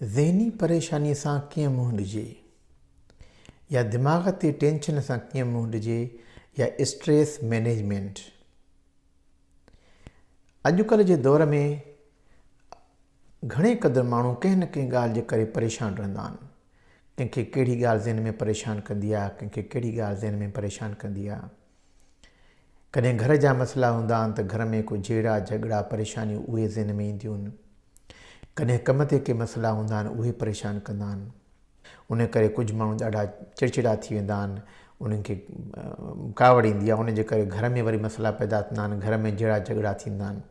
ذهني پريشانيء سان ڪيئن منهن ڏجي يا دماغ تي ٽينشن سان ڪيئن منهن ڏجي يا اسٽريس مينيجمينٽ اڄڪلهه جي دور ۾ گهڻي قدر ماڻهو ڪنهن نه ڪنهن ڳالهه جي ڪري پريشان رهندا آهن ڪنهن کي ڪهڙي ڳالهه ذهن ۾ پريشان ڪندي آهي ڪنهن کي ڪهڙي ڳالهه ذهن ۾ پريشان ڪندي آهي ڪڏهن گهر جا مسئلا هوندا آهن ته گهر ۾ ڪو جهيڙا جهڳڙا پريشانيون اهي ذهن ۾ اينديون آهن. ڪڏهن ڪم تي ڪي مسئلا هوندا آهن اهي پريشان ڪندا آهن. ان ڪري ڪجهه ماڻهو ڏاڍا چڙچڙا ٿي ويندا آهن انهن کي ڪاوڙ ايندي آهي ان جي ڪري گهر ۾ وري مسئلا پيدا ٿيندا آهن گهر ۾ جهيڙا جهڳڙا ٿيندا آهن.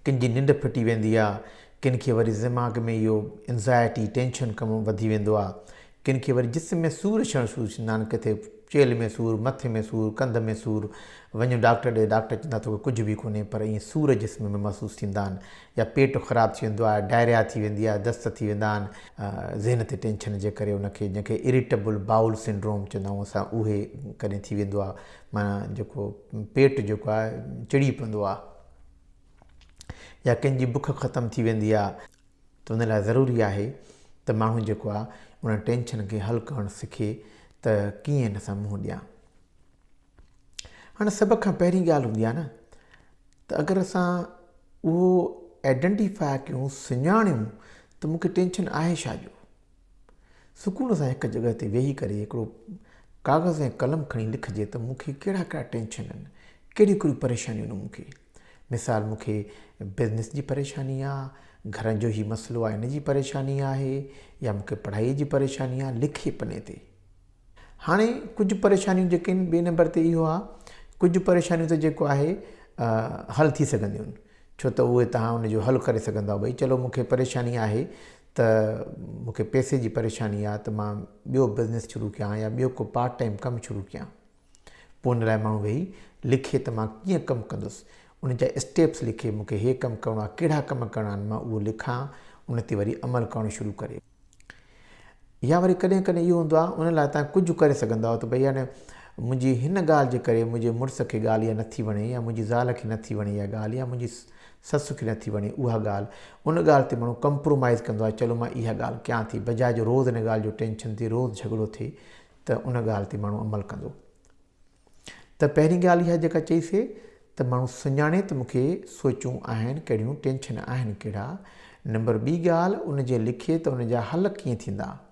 ڪن جي ننڊ ڦٽي ويندي آ، ڪن کي وري دماغ ۾ اهو Anxiety، ٽينشن ڪم وڌي ويندو آ، ڪن کي وري جسم ۾ سور اچڻ شروع ٿيندا آهن، ڪٿي چيلهه ۾ سور، مٿي ۾ سور، ڪنڌ ۾ سور، وڃ ڊاڪٽر ڏي، ڊاڪٽر چوندا توکي ڪجهه به ڪونهي پر ائين سور جسم ۾ محسوس ٿيندا آهن يا پيٽ خراب ٿي ويندو آهي، Diarrhea ٿي ويندي آهي، دست ٿي ويندا آهن، ذهن تي ٽينشن جي ڪري ان کي جنهن کي Irritable Bowel Syndrome چوندا آهيون اسان اهي ڪڏهن ٿي ويندو آ. معنيٰ جيڪو پيٽ جيڪو آهي چڙي پوندو آهي يا ڪنهن جي بک ختم ٿي ويندي آهي ته ان لاء ضروري آهي ته ماڻهو جيڪو آهي ان ٽينشن کي حل ڪرڻ سکي ته ڪيئن ان سان منهن ڏيان هاڻي سڀ کان پهرين ڳالهه هوندي آهي ن ته اگر اسان اهو آئيڊينٽيفاء ڪيون سڃاڻيون ته مونکي ٽينشن آهي ڇا جو سڪون سان هڪ جڳهه تي ويهي ڪري هڪڙو ڪاغذ ۽ قلم کڻي لکجي ته مون کي ڪهڙا ڪهڙا ٽينشن آهن، ڪهڙيون ڪهڙيون پريشانيون آهن مون کي. مثال مون کي بزنس جي پريشاني آ، گهرن جو هي مسئلو آ ان جي پريشاني آهي يا مون کي پڙهائي جي پريشاني آ، لکي پني تي. هاڻي ڪجهه پريشانيون جيڪي آهن ٻئي نمبر تي اهو آ ڪجهه پريشانيون ته جيڪو آهي حل ٿي سگهنديون آهن ڇو ته اهي توهان ان جو حل ڪري سگهندؤ ڀئي چلو مون کي پريشاني آهي ته مون کي پئسي جي پريشاني آ ته مان ٻيو بزنس شروع ڪيان يا ٻيو ڪو پارٽ ٽائيم ڪم شروع ڪيان پوء ان لاء ماڻهو ويهي لکي ته مان ڪيئن ڪم ڪندس ان جا اسٽيپس لکي مون کي هي ڪم ڪرڻو آ ڪهڙا ڪم ڪرڻا آهن مان اهو لکان ان تي وري عمل ڪرڻ شروع ڪري يا وري ڪڏهن ڪڏهن اهو هوندو آ ان لاء تان ڪجهه ڪري سگهندا آهيو ته ڀئي هاڻي منهنجي هن ڳالهه جي ڪري منهنجي مڙس کي ڳالهه اها نٿي وڻي يا منهنجي زال کي نٿي وڻي اها ڳالهه يا منهنجي سس کي نٿي وڻي اها ڳالهه، ان ڳالهه تي مڙو ڪمپرومائيز ڪندو آهي، چلو مان اها ڳالهه ڪيان ٿي، بجاء جو روز ان ڳالهه جو ٽينشن ٿئي، روز جهڳڙو ٿئي ته ان ڳالهه تي ماڻهو عمل ڪندو. ته پهرين ڳالهه اها جيڪا چئي سي ته ماڻهو سڃاڻي ته مون کي سوچون آهن ڪهڙيون، ٽينشن آهن ڪهڙا، نمبر ٻي ڳالهه ان جي لکي ته ان جا حل ڪيئن ٿيندا.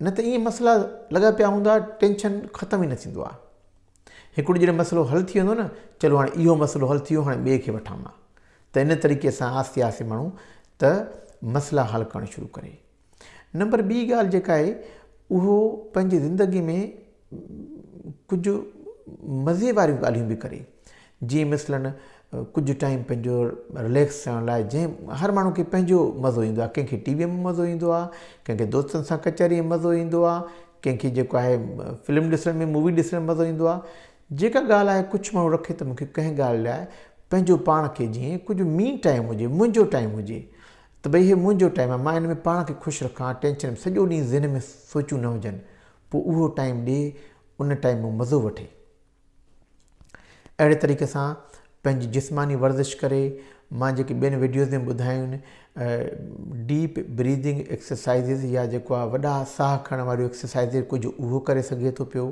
نه ته ائين مسئلا لڳا پيا هوندا ٽينشن ختم ئي نه ٿيندو آ هڪڙو جڏهن مسئلو حل ٿي ويندو نه چلو هاڻي اهو مسئلو حل ٿي ويو هاڻي ٻئي کي وٺان مان ته ان طريقي سان آهستي آهستي ماڻهو ته مسئلا حل ڪرڻ شروع ڪري نمبر ٻي ڳالهه جيڪا آهي اهو پنهنجي زندگي ۾ ڪجهه مزي واريون ڳالهيون به ڪري جيئن مثلاً ڪجهه ٽائيم پنهنجو رليڪس ٿيڻ لاء جنهن هر ماڻهو کي پنهنجو مزو ايندو آهي ڪنهنکي ٽي ويء ۾ مزو ايندو آهي ڪنهنکي دوستن سان ڪچهري ۾ مزو ايندو آهي ڪنهنکي جيڪو آهي فلم ڏسڻ ۾ مووي ڏسڻ ۾ مزو ايندو آهي جيڪا ڳالهه آهي ڪجهه ماڻهو رکي ته مونکي ڪنهن ڳالهه لاء پنهنجو پاڻ کي جيئن ڪجهه مي ٽائيم هجي منهنجو ٽائيم هجي ته ڀئي هي منهنجو ٽائيم آهي مان هن ۾ پاڻ کي خوش رکان ٽينشن سڄو ڏينهن ذهن ۾ سوچون نه هجن پوء اهو ٽائيم ڏي ان ٽائيم مان مزو وٺي. اهڙي طريقي سان پنهنجي جسماني ورزش ڪري مان جيڪي ٻين وڊيوز ۾ ٻڌايون ڊيپ بريدنگ ايڪسرسائزز يا جيڪو آ وڏا ساهه کڻڻ واريون ايڪسرسائزز ڪجهه اهو ڪري سگهي ٿو پيو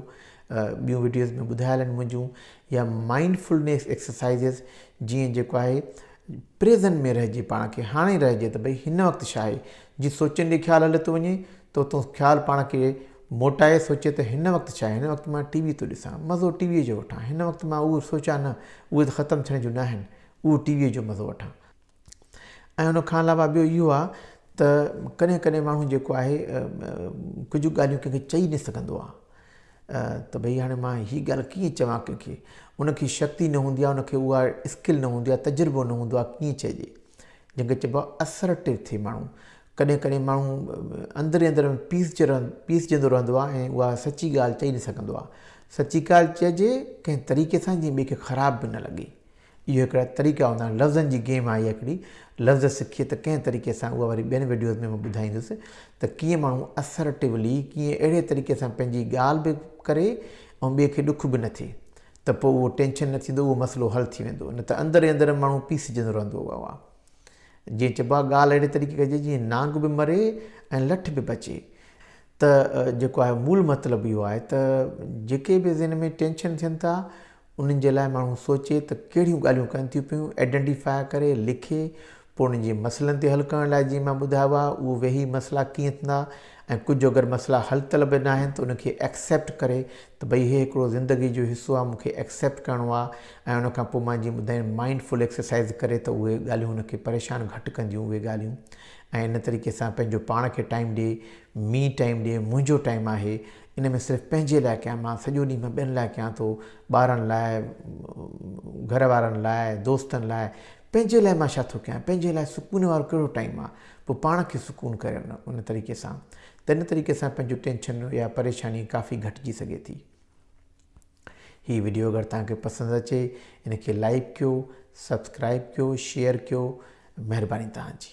ٻيون وڊيوز ۾ ٻڌايل آهن منهنجون يا مائنڊ فلنيس ايڪسرسائزز جيئن جيڪو آهي پريزن ۾ رهجي پاڻ کي هاڻي رهجي ته ڀئي هن وقت شاهي جي سوچين ڏي خيال هليو ٿو وڃي ته اتون خيال پاڻ کي موٽائي سوچي ته هن وقت ڇا هن وقت مان ٽي وي ٿو ڏسان مزو ٽي وي جو وٺان هن وقت مان اهو سوچان نه اهي ته ختم ٿيڻ جون ناهن اهو ٽي وي جو مزو وٺان ۽ ان کان علاوه ٻيو اهو آ ته ڪڏهن ڪڏهن ماڻهو جيڪو آهي ڪجهه ڳالهيون ڪنهن کي چئي نه سگهندو آ ته ڀئي هاڻي مان هي ڳالهه ڪيئن چوان ڪنهن کي ان کي شڪتي نه هوندي آ ان کي اها اسڪل نه هوندي آ تجربو نه هوندو آ ڪيئن چئجي جنهن کي چئبو آهي اسرٽيو ٿئي ماڻهو ڪڏهن ڪڏهن ماڻهو اندر ئي اندر ۾ پيسجي پيسجندو رهندو آهي ۽ اها سچي ڳالهه چئي نه سگهندو آهي سچي ڳالهه چئجي ڪنهن طريقي سان جيئن ٻئي کي خراب به نه لڳي اهي هڪڙا طريقا هوندا آهن لفظن جي گيم آهي اها هڪڙي لفظ سکي ته ڪنهن طريقي سان اها وري ٻين وڊيوز ۾ مان ٻڌائيندس ته ڪيئن ماڻهو اسرٽيولي ڪيئن اهڙي طريقي سان پنهنجي ڳالهه به ڪري ۽ ٻئي کي ڏک به نه ٿئي ته پوء اهو ٽينشن نه ٿيندو اهو مسئلو حل ٿي ويندو نه ته اندر ئي اندر ماڻهو پيسجندو رهندو واهه واهه جيئن چئبو آهي ڳالهه اهڙي طريقي ڪجي جيئن نانگ به مري ۽ لٺ به بچي ته جيڪو آهي مول مطلب اهو آهي ته جيڪي به ذهن ۾ ٽينشن ٿين ٿا انهن جي لاء ماڻهو سوچي ته ڪهڙيون ڳالهيون ڪن ٿيون پيون ايڊنٽيفاء ڪري لکي پوء انهن جي مسئلن تي حل ڪرڻ لاء جيئن مان ٻڌايو آهي اهو ويهي مسئلا ڪيئن ٿيندا ۽ ڪجهه جو اگر مسئلا حل طلب به ناهن ته ان کي ايڪسيپٽ ڪري ته ڀئي هي هڪڙو زندگي جو حصو آهي مون کي ايڪسيپٽ ڪرڻو آهي ۽ ان کان پوء مان جيئن ٻڌايم مائنڊ فل ايڪسرسائيز ڪري ته اهي ڳالهيون ان کي پريشان گهٽ ڪنديون اهي ڳالهيون ۽ ان طريقي سان پنهنجو پاڻ کي ٽائيم ڏي مي ٽائيم ڏي منهنجو ٽائيم آهي ان ۾ صرف پنهنجي لاء ڪيان مان سڄو ڏينهن مان ٻين لاء ڪيان ٿو ٻارن لاء گهر وارن لاء دوستن لاء پنهنجي لاء مان ڇا ٿو ڪيان؟ پنهنجي لاء سڪون وارو ڪهڙو ٽائيم آهي؟ پوء پاڻ کي سڪون ڪريو نه ان طريقي سان ته ان طريقي سان پنهنجو ٽينشن يا پريشاني ڪافي گهٽجي سگهي ٿي. هي وڊيو اگر توهان کي پسند اچي ان کي لائيڪ ڪيو، سبسڪرائيب ڪيو، شيئر ڪيو مهرباني توهان جي.